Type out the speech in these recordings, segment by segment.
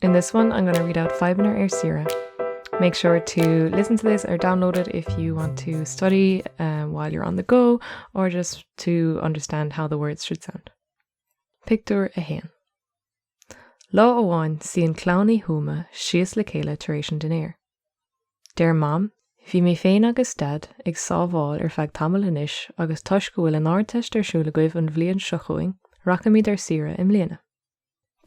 In this one I'm going to read out Fadhbanna ar Saoire. Make sure to listen to this or download it if you want to study um, while you're on the go or just to understand how the words should sound. Pictiúr a haon. Lá amháin suíonn clann Uí Thuama síos le chéile tar éis an dinnéir. Deir mam, bhí mé féin agus dad ag sábháil ar feadh tamaill anois agus toisc go bhfuil an Ardteist ar siúl agaibh an bhliain seo chugainn, rachaimid ar saoire i mbliana.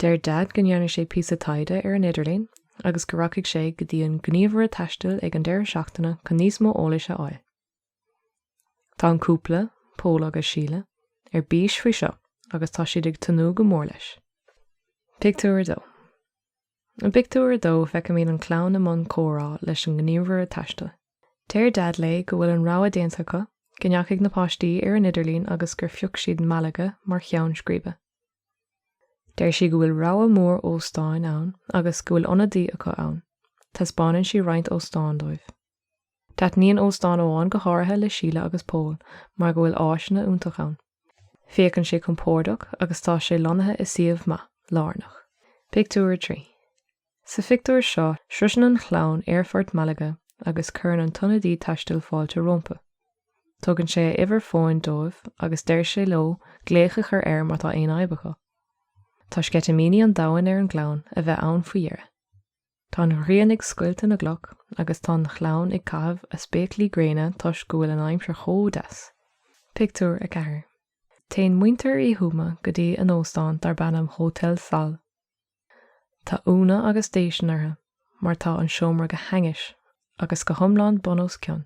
Deir Daid go ndearna sé píosa taighde ar an idirlíon agus go rachaidh sé go dtí an gníomhaire taistil ag an deireadh seachtaine chun níos mó eolais a fháil. Tá an cúpla, Pól agus Síle, ar bís faoi seo agus tá siad ag tnúth go mór leis. Pictiúr 2 I bpictiúr a dó feicimid an chlann i mbun comhrá leis an ngníomhaire taistil. Deir Daid léi go bhfuil an rogha déanta acu, go ndeachaigh na páistí ar an idirlíon agus gur phioc siad Malaga mar cheann scríbe. Deir sí go bhfuil rogha mór óstáin ann agus go bhfuil ionadaí acu ann. Taispeánann sí roinnt óstán dóibh. Taitníonn óstán amháin go háirithe le Síle agus Pól mar go bhfuil áiseanna iontach ann. Féachann sé compordach agus tá sé lonnaithe i suíomh maith, lárnach. Pictiúr 3. Sa phictiúr seo, sroiseann an chlann aerfort Malaga agus cuireann an t-ionadaí taistil fáilte rompa. Tugann sé a uimhir fóin dóibh agus deir sé leo glaoch a chur air má tá aon fhadhb acu. Tá sceitimíní an domhain ar an gclann a bheith ann faoi dheireadh. Tá an ghrian ag scoilteadh na gcloch agus tá an chlann ag caitheamh a spéaclaí gréine toisc go bhfuil an aimsir chomh deas. Pictiúr 4 Téann muintir Uí Thuama go dtí a n-óstán darb ainm Hotel Sol. Tá ionadh agus déistin orthu mar tá an seomra go hainnis agus go hiomlán bun os cionn.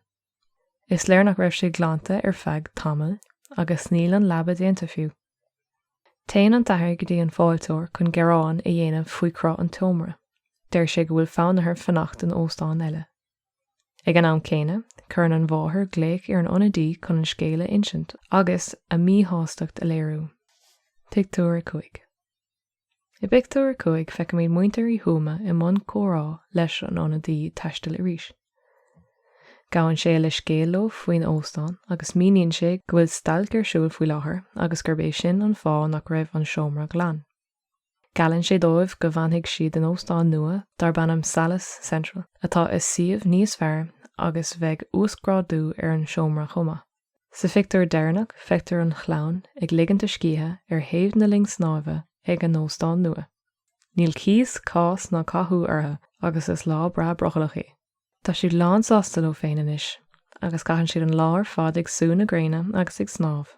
Is léir nach raibh sé glanta ar feadh tamaill agus níl an leaba déanta fiú. Téann an t-athair go dtí an fáilteoir chun gearán a dhéanamh faoi chruth an tseomra. Deir sé go bhfuil fonn orthu fanacht in óstán eile. Ag an am céanna, cuireann an mháthair glaoch ar an ionadaí chun an scéal a insint agus a míshástacht a léiriú. Pictiúr 5. I bpictiúr a cúig feicimid muintir Uí Thuama i mbun comhrá leis an ionadaí taistil arís. Gabhann sé leithscéal leo faoin óstán agus míníonn sé go bhfuil stailc ar siúl faoi láthair agus gurb é sin an fáth nach raibh an seomra glan. Geallann sé dóibh go bhfanfaidh siad in óstán nua darb ainm Salles Central atá i suíomh níos fearr agus bheidh uasghrádú ar an seomra chomh maith. Sa phictiúr deireanach feictear an chlann ag ligint a scíthe ar thaobh na linne snámha ag a n-óstán nua. Níl cíos, cás ná cathú orthu agus is lá breá brothallach é. Tá siad lán sásta leo féin anois agus caitheann siad an lá ar fad ag sú na gréine agus ag snámh.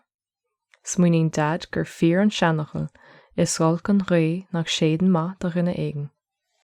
Smaoiníonn Deaid gur fíor an seanfhocal, 'Is olc an ghaoth nach séideann maith do dhuine éigin'.